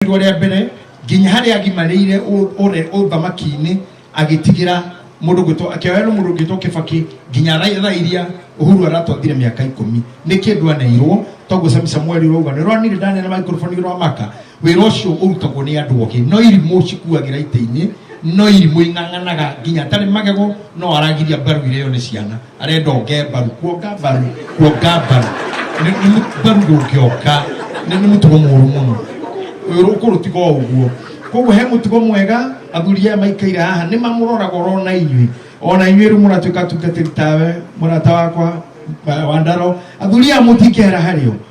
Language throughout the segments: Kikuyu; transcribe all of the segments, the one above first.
rĩakorirwo rĩa mbere nginya harĩa agimarĩire ũ- ũre ũthamaki-inĩ agĩtigĩra mũndũ gwĩtwo akĩoerwo mũndũ gwĩtwo kĩbaki nginya ra- thaa iria ũhuru aratwathire mĩaka ikũmi nĩ kĩndũ aneirwo toguo sami samueli rauga nĩ rwanire ndanene maikoroboni rwa maka wĩra ũcio ũrutagwo nĩ andũ ogĩ no irimũ cikuagĩra itĩ-inĩ no irimũ ing'ang'anaga nginya atarĩ magego no aragiria mbaru iria yone ciana arenda onge mbaru kuonga mbaru kuonga mbaru Nĩ- nĩ mũ- mbaru ndũngĩonga nĩ nĩ mũtugo mũru mũno ũyũ rũkũrũ tiga o ũguo koguo he mũtugo mwega athuri aya maikaire haha nĩ mamũroraga orona inyuĩ ona inyuĩ rĩu mũratuĩka tungatĩri tawe mũrata wakwa wa- wa ndaro athuri aya mũtingĩhera harĩ o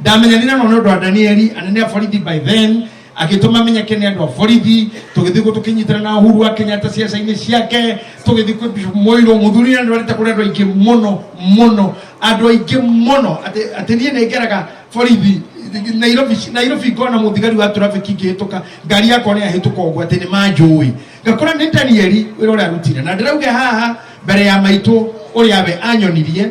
ndamenyanire no nä å ndå wa danieli anene a borithi by then agĩtũma menyeke nĩ andũ a borithi tũgĩthiĩ guo tũkĩnyitana na uhuru wa kenyatta ciaca-inĩ ciake tũgĩthiĩ kwĩ Bishop moirũ mũthuri na ndwarĩte kũrĩ andũ aingĩ mũno mũno andũ aingĩ mũno atĩ atĩ niĩ nĩ ngeraga borithi nairobi nairobi ngona mũthigari wa trafiki ngĩhĩtũka ngari yakwa nĩ yahĩtũka ũguo atĩ nĩ manjũĩ ngakora nĩ danieli wĩra ũrĩa arutire na ndĩrauge haha mbere ya maitũ ũrĩa we anyonirie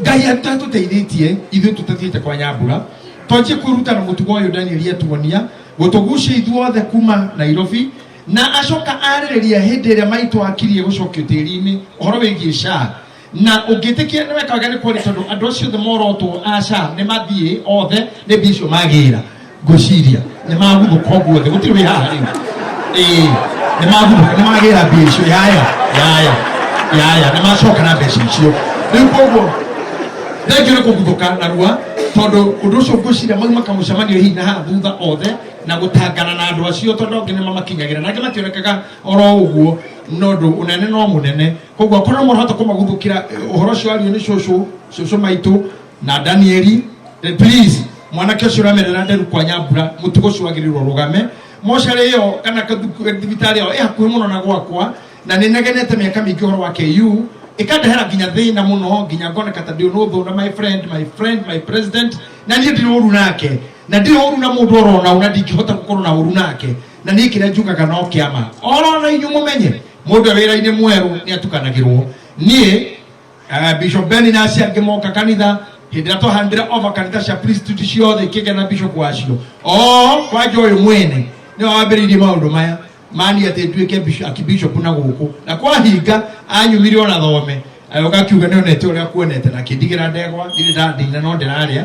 ngai atatũteithĩtie ithuĩ tũtathiĩte kwa nyambura twanjie kwĩruta na mũtugo ũyũ danieli atuonia gũtũgucia ithuothe kuma nairobi na acoka arĩrĩria hĩndĩ ĩrĩa maitũ akirie gũcokio tĩri-inĩ ũhoro wĩgiĩ shaa na ũngĩtĩkia nĩ wekaga nĩ kweri tondũ andũ acio othe morotwo a shaa nĩ mathiĩ othe nĩ mbia icio magĩra ngwĩciria nĩ maguthũka ũguo thĩ gũtirĩ wĩ haha rĩu Ĩĩ, nĩ maguthũka nĩ magĩra mbia icio yaya yaya yaya nĩ macoka na mbeca icio rĩu koguo thengio nĩ kũguthũka narua tondũ ũndũ ũcio ngwĩciria mau makamũcemanio hihi na haha thutha othe na gũtangana na andũ acio tondũ angĩ nĩ mamakinyagĩra na angĩ mationekaga oro ũguo no ũndũ ũnene no mũnene koguo akorwo nĩ mũrahota kũmaguthũkĩra eh, ũhoro ũcio ario nĩ cũcũ cũcũ maitũ na danieli eh, please mwanake ũcio ũramerera nderu kwa nyambura mũtugo ũcio wagĩrĩirwo rũgame mocarĩ ĩyo kana kathuku- eh, thibitarĩ ĩyo ĩ hakuhĩ mũno na gwakwa na nĩ negenete mĩaka mingĩ ũhoro wa ku ĩkandehera nginya thĩna mũno nginya ngoneka ta ndĩ ũnũthũ na my friend my friend my president na niĩ ndirĩ ũru nake na ndirĩ ũru na mũndũ orona na ndingĩhota gũkorwo na ũru nake na niĩ kĩrĩa njugaga no kĩama orona inyuĩ mũmenye mũndũ wĩra-inĩ mwerũ nĩ atukanagĩrwo niĩ Eh, bishop ben nasi angimoka kanitha hindi ria twahandira ova kanitha cia priesthood ciothe ikigĩa na bishop wacio o kwanja uyu mwene ni wambiriirie maundu maya mani ati nduike bishop- akibishop na guku na kwahinga anyumire ona thome agĩũka akiuga nĩonete ũrĩa kuonete na kĩndigĩra ndegwa ndirĩ ndandina no ndĩrarĩa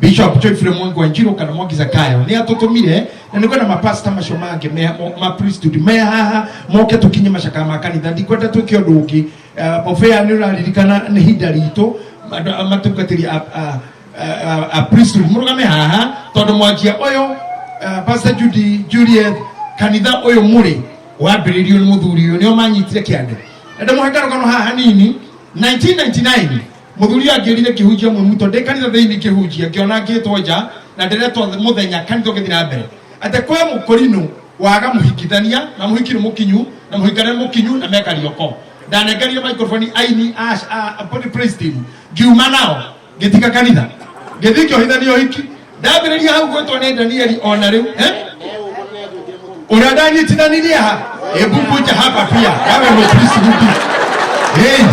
bishop joyfrey mwangi wanjiro kana mwangi zakayo ni atutumire na niko na mapasta macio mangĩ me mo- ma priesthood me haha moke tũkinye macakaya ma kanitha ndikwenda twĩke ũndũ ũngĩ Eh, mũbĩa nĩ ũraririkana nĩ hinda ritũ andũ a- matungatĩri a- a- a- a- a priesthood mũrũgame haha tondũ mwanjia ũyũ eh, pastor judy juliet kanitha ũyũ mũrĩ wambĩrĩirio nĩ mũthuri ũyũ nĩo manyitire kĩande na ndĩmũhe karũgano haha hanini 1999 muthuri angirire kihunjia mwe muto ndi kanitha thiini kihunjia ngiona ngitwo nja na ndiretwo muthenya kanitha ngithi na mbere ate kwe mukorinu waga muhikithania na muhiki ni mukinyu na muhikana ni mukinyu na meka rioko ndanengerire microphone aini ash a body praise team ngiuma nao ngitiga kanitha ngithi ngiohithania uhiki ndambĩrĩria hau gwĩtwo nĩ danieli o na rĩu eh? ũrĩa ndanyitithanirie ha ĩmbumbunja hapa pia yawe mũkrisiruki hey,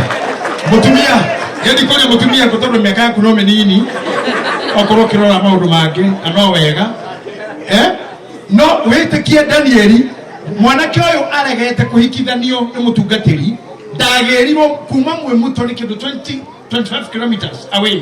mũtumia yendi kũrĩa mũtumia ngũ tondũ mĩaka yaku no mĩnini okorwo ũkĩrora maũndũ mangĩ na no wega eh? no wĩtĩkie danieli mwanake ũyũ aregete kũhikithanio nĩ mũtungatĩri ndagĩrirwo kuma mwĩmuto nĩ kĩndũ 20 25 kilometers away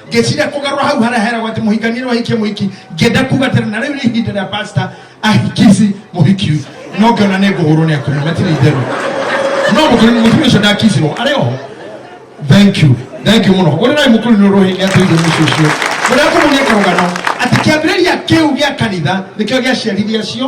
ngĩciria kũgarũra hau harĩa heragwo atĩ mũhikania nĩ wahikia mũhiki ngĩenda kuga atĩrĩ na rĩu nĩ ihinda rĩa pasta ahikici mũhiki ũyũ no ngĩona nĩ ngũhũrwo nĩ akumia matirĩ itherũ no mũkũrũ mũtumia ũcio ndakicirwo arĩ oho thank you thank you mũno ũrĩ naĩ mũkũrũ nĩ ũrũhĩ nĩ atũire mũciĩ ũcio ũrĩa kũmũnia karũgano atĩ kĩambĩrĩria kĩu gĩa kanitha nĩkĩo gĩaciarithia cio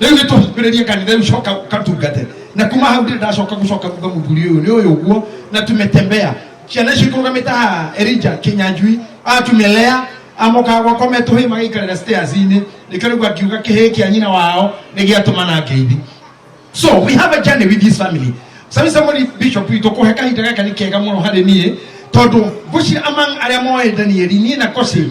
rĩu nĩ tũhingũrĩrie kanitha rĩu coka katungate na kuma hau ndĩ ndacoka gũcoka kuga mũthuri ũyũ nĩ ũyũ guo na tumetembea ciana icio ikũrũgamĩte haha erija kĩnyanjui atumelea amokaga gwakwa metũhĩ magaikarĩra stairs-inĩ nĩkĩo rĩu akiuga kĩhĩ kĩa nyina wao nĩ gĩatũma na ngeithi so we have a journey with this family sami samori bishop witå kå he kahinda gaka nä kega må no harä niä tondå ngå among arä a moä danieli niä na kosi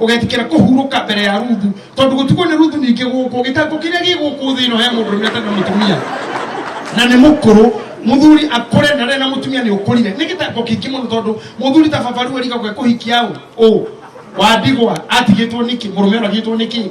ugetikira kuhuruka mbere ya ruthu tondu gutuko ni ruthu nyingi guku gitango kiria gi guku thi no he mundu ni atana mutumia na ni mukuru muthuri akure na rena mutumia ni ukurire ni gitango kingi muno tondu muthuri ta babaru erika gwe kuhikia u wadigwa atigitwo niki murume uragitwo niki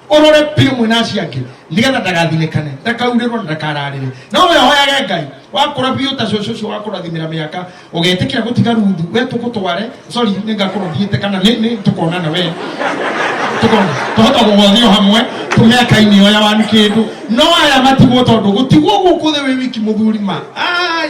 ũrore biũ mwĩna acio angĩ nĩgetha ndagathinĩkane ndakaurĩrwo na ndakararĩre no we hoyage ngai wakũra biũ ta cũcũ ũcio wakũrathimĩra mĩaka ũgetĩkĩra gũtiga rundu we tũgũtware sorry nĩ ngakũrothiĩte kana nĩ nĩ tũkonana we tũkona tũhota gũgũthio hamwe tũmĩaka-inĩ yoya wanu kĩndũ no aya matigwo tondũ gũtigwo gũkũ thĩ wĩ wiki mũthuri ma ai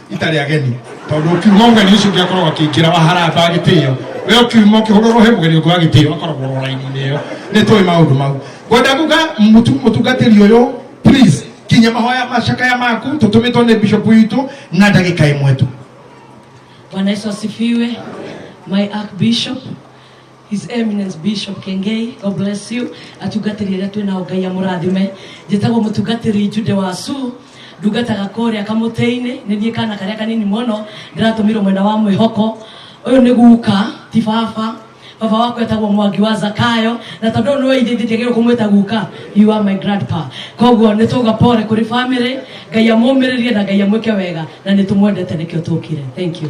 itarĩ ageni tondũ ũkiuga ũgeni ũcio ũngĩ akoragwo akĩingĩra waharamba gĩtĩo we ũkiuma ũkĩhũrũrwo he mũgeni ũngĩ wa gĩtĩo akoragwo ro raini-inĩ ĩyo nĩ tũĩ maũndũ mau ngwenda kuga mũtu- mũtungatĩri ũyũ please kinya mahoya macakaya maku tũtũmĩtwo nĩ bishop witũ na ndagĩka ĩmwe tu Bwana Yesu asifiwe. My Archbishop, His Eminence Bishop Kengei, God bless you. Atungatĩri arĩa twĩ nao Ngai amũrathime. Njĩtagwo mũtungatĩri Jude Wasu, ndungataga kũrĩa kamũtĩ-inĩ, nĩ niĩ kana karĩa kanini mũno, ndĩratũmĩrwo mwena wa mwĩhoko. Ũyũ nĩ guka, ti baba. Baba waku etagwo Mwangi wa Zakayo, na tondũ ũyũ nĩwe ithe ithe njagĩrĩirwo kũmwĩta guka, you are my grandpa. Koguo nĩ twauga pole kũrĩ family, Ngai amũmĩrĩrie na Ngai amwĩke wega, na nĩ tũmwendete nĩkĩo tũkire. Thank you.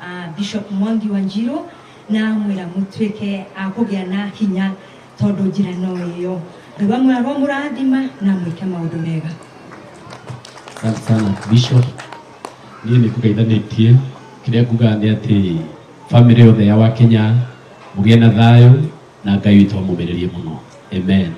a Bishop Mwangi Wanjiru na amwĩra mũtuĩke a kũgĩa na hinya tondũ njĩra no ĩyo Ngai wa muoyo aromũrathima na mwĩke maũndũ mega Asante sana Bishop. Niĩ nĩ kũgeithanĩtie kĩrĩa ngugaga nĩ atĩ bamĩrĩ yothe ya Wakenya mũgĩe na thayũ na Ngai witũ amũmĩrĩrie mũno. Amen.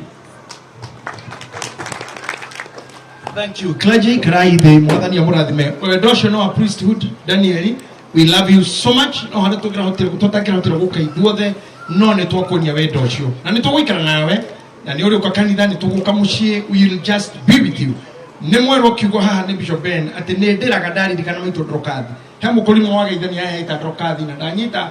Thank you. Clergy, can I the mwathani ya mũrathime wendo ũcio nĩ wa priesthood Danieli we love you so much no harĩa tũngĩrahotire tũtangĩrahotire gũka ithuothe no nĩ twakuonia wendo ũcio na nĩ tũgũikara nawe na nĩ ũrĩũka kanitha nĩ tũgũka mũciĩ we will just be with you nĩ mwerwo kiugo haha nĩ bishop ben atĩ nĩ ndĩraga ndaririkana maitũ ndrokathi he mũkũrimũ wageithania he ita ndrokathi na ndanyita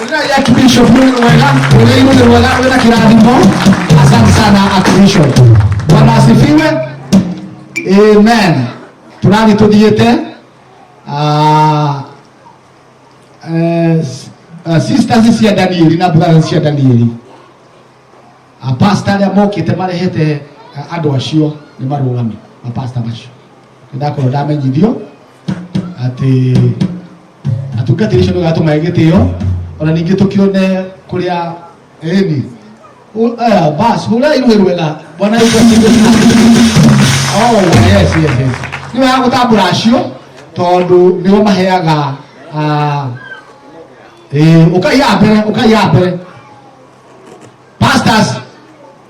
Wĩra ya Archbishop nĩ ũndũ mwega, wĩra inĩ nĩ mwega, wĩra kĩrathimo. Asante sana Archbishop. Bwana asifiwe. Amen. Tũrathiĩ tũthiĩte. Ah, eh, s- ah, sisters cia Danieli na brothers cia Danieli. Apasta arĩa mokĩte marehete ah, andũ acio nĩ marũgame. Apasta macio. ndakorwo ndamenyithio atĩ atungatĩri icio nĩgatũmae gĩtĩo ona ningĩ tũkĩone kũrĩa eni bas hũrai rũĩ rwega bwana Yesu asifiwe sana. Oh, yes, yes, yes. nĩ wega gũtambũra acio tondũ nĩo maheaga ah, eh, ũkaiya mbere ũkaiya mbere pastors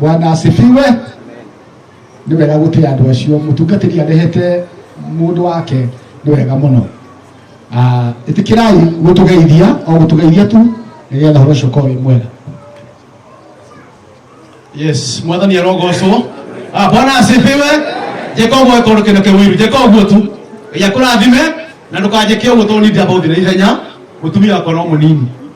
bwana asifiwe nä wega gå tä andå acio må tungatä ri arehete må ndå wake nä wega må no ä tä kä rai gå tå geithia o gå tå geithia tu nä getha horo cio korwo wä mwega yes mwathani arogocwo Ah, bwana asifiwe njĩka ũguo ĩkorwo kĩndũ kĩu iru njĩka ũguo tu ngai akũrathime na ndũkanjĩke ũguo tondũ nindamba gũthiĩ na ihenya mũtumia wakwa no mũnini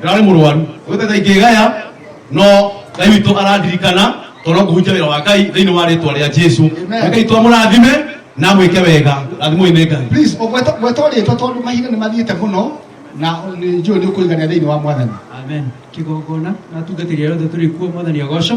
ndararĩ mũrwaru gwĩtata ingĩgaya no ngai witũ arandirikana tondũ no kũhunjia wĩra wa ngai thĩinĩ wa rĩtwa rĩa jesu Amen. ngai twamũrathime na mwĩke wega rathimoi nĩ ngai please ũgweta gweta rĩtwa tondũ mahinda nĩ mathiĩte mũno na nĩ njũĩ nĩ ũkũigania thĩinĩ wa mwathani amen kĩgongona na atungatĩri arĩa othe tũrĩ kuo mwathani agocwo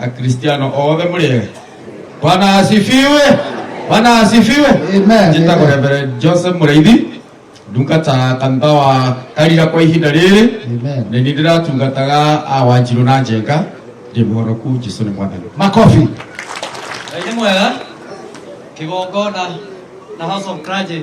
akristiano othe mũrĩega bwana asifiwe bwana asifiwe Amen. njĩtagwo reverend joseph mũraithi ndungata kanitha wa karira kwa ihinda rĩrĩ Amen. nĩ niĩ ndĩratungataga a wanjirũ na njenga ndĩ mũhonoku jesu nĩ mwathani makobi Ngai nĩ mwega kĩgongona na house of clergy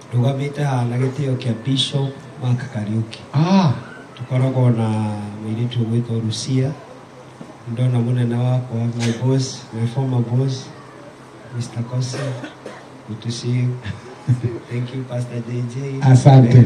ndũgamĩte haha na gĩtĩo kĩa Bishop Mark Kariuki Ah, tukoragwo na mũirĩtu ũgwĩtwo Rucia ndona mũnene wakwa my boss my former boss Mr. Kosi good to see you thank you Pastor JJ Asante.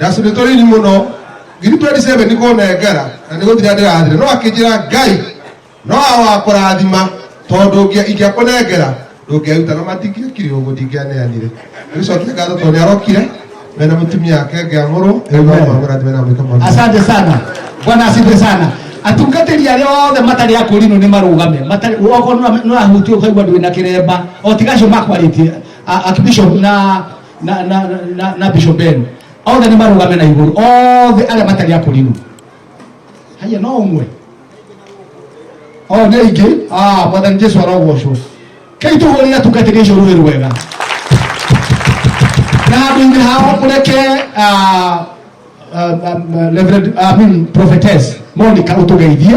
ndacũnĩ tũnini mũno ngiri 27 nĩ kũnengera na nĩ gũthira ndĩrathire no akĩnjĩra ngai no awakũrathima tondũ ngĩa- ingĩakũnengera ndũngĩaruta na matingĩekire ũguo ndingĩaneanire gĩcokia ngatho tondũ nĩarokire mena mũtumia wake ngĩamũrwo ĩgomamũrathime na mwĩka maũndũ asante sana bwana asifiwe sana atungatĩri arĩa othe matarĩ akũrinũ nĩ marũgame matarĩ okorwo nũrahutio ũkaigua ndwĩna kĩremba o tigacio makwarĩtie akibishop na na na na, na, na bishop Ben othe nĩ marũgame na igũrũ othe arĩa matarĩ akũrinũ haya no ũmwe o nĩ aingĩ ah mwathani Jesu arogocwo kai tũhũrĩre atungatĩri acio rũĩ rwega na handũ-inĩ hao mũreke ah, ah, ah, Reverend- ah, I mean, prophetess Monica ũtũgeithie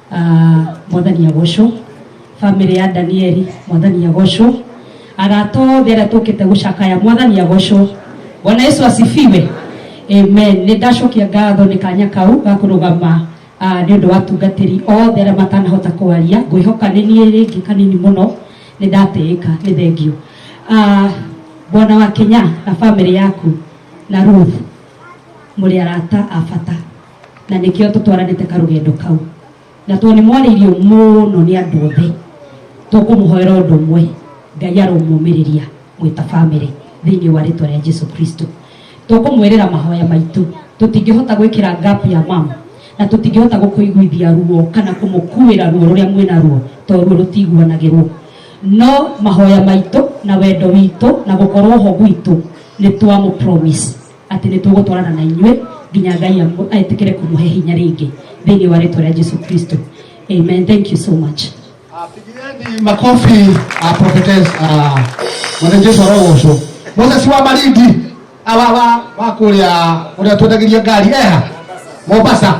Ah, mwathani agocwo bamĩrĩ ya danieli mwathani agocwo arata othe arĩa tũkĩte gũcakaya mwathani agocwo bwana yesu asifiwe amen nĩ ndacokia ngatho nĩ kanya kau ga kũrũgama ah, nĩ ũndũ wa tungatĩri othe arĩa matanahota kwaria ngwĩhoka nĩ niĩ rĩngĩ kanini mũno nĩ ndatĩĩka nĩ thengio Ah, bwana wa kenya na bamĩrĩ yaku na ruth mũrĩ arata a bata na nĩkĩo tũtwaranĩte karũgendo kau na tondũ nĩ mwarĩirio mũno nĩ andũ othe tũkũmũhoera ũndũ ũmwe ngai aromũmĩrĩria mwĩta bamĩrĩ thĩinĩ wa rĩtwa rĩa jesu kristo tũkũmwĩrĩra mahoya maitũ tũtingĩhota gwĩkĩra ngapu ya mama na tũtingĩhota gũkũiguithia ruo kana kũmũkuĩra ruo rũrĩa mwĩna ruo to ruo rũtiguanagĩrwo no mahoya maitũ na wendo witũ na gũkorwo ho gwitũ nĩ twamũ promise atĩ nĩ tũgũtwarana na inyuĩ nginya ngai amu- etĩkĩre kũmũhe hinya rĩngĩ thĩinĩ wa rĩtwa rĩa jesu kristo amen thank you so much Pigieni makofi uh, prophetess uh, mwanajesu arogocwo moses wa marindi awawa wa kũrĩa ũrĩa twendagĩria ngari eha mombasa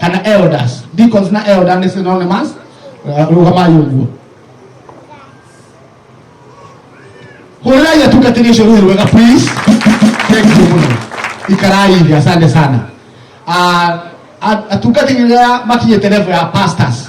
kana elders deacons na elder nĩ synonymous rũgama yũguo hũrĩrai atungatĩri ũcio rũhĩ rwega please thank you mũno ikarai thĩ asante sana Ah, a- atungatĩri rĩrĩa makinyĩte level ya pastors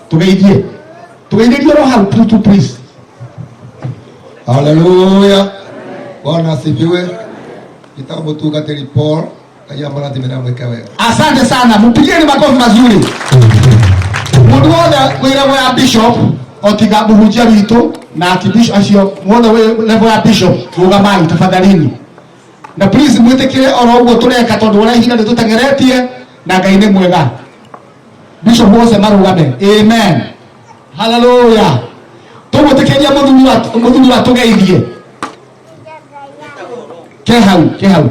tugeithie tugeithĩrie ro hau tu tu please haleluya bwana asifiwe nitamutungatĩri paul ngai amũrathime na mwĩke wega asante sana mpigieni makofi mazuri mundu wothe wĩ level ya bishop otiga muhunjia witũ na akibishop acio wothe wĩ level ya bishop rũgamai tafadhalini na please mwĩtĩkĩre oro ũguo tũreka tondũ ũrĩa ihinda rĩtũtengeretie na ngai nĩ mwega bishop wothe marugame amen haleluya tũgũtĩkĩria mũthuri wa- mũthuri wa tũgeithie ke hau ke hau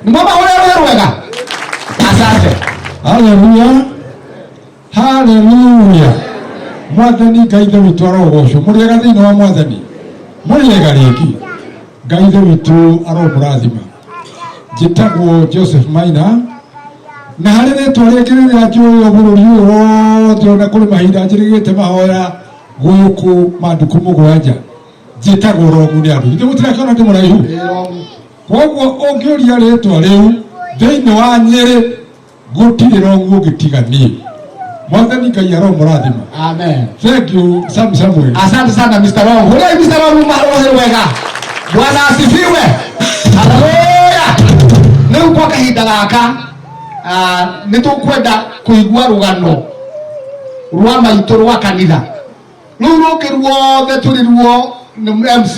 nĩmwamahũrĩra rũĩ rwega asante Haleluya. haleluya mwathani ngai ithe witũ arogocwo mũrĩega thĩinĩ wa mwathani mũrĩega rĩngĩ ngai ithe witũ aromũrathima njĩtagwo joseph maina na harĩ rĩtwa rĩngĩ rĩrĩa njũĩ bũrũri ũyũ wothe ona kũrĩ mahinda njĩrĩgĩte mahoya gũkũ manduku mũgwanja njĩtagwo rogu nĩ andũ ithe mũtirakĩona ndĩ mũraihu koguo ũngĩũria rĩtwa rĩu thĩinĩ wa nyĩrĩ gutirä ra å guo gä tiga niä mwathani ngai aromũrathima amen thank you sam samuel asante sana mr long hurei mr long umarohe wega bwana asifiwe haleluya rĩu kwa kahinda gaka ah, nĩ tũkwenda kũigua rũgano rwa maitũ rwa kanitha rũu rũngĩ ruothe tũrĩ ruo nĩ mc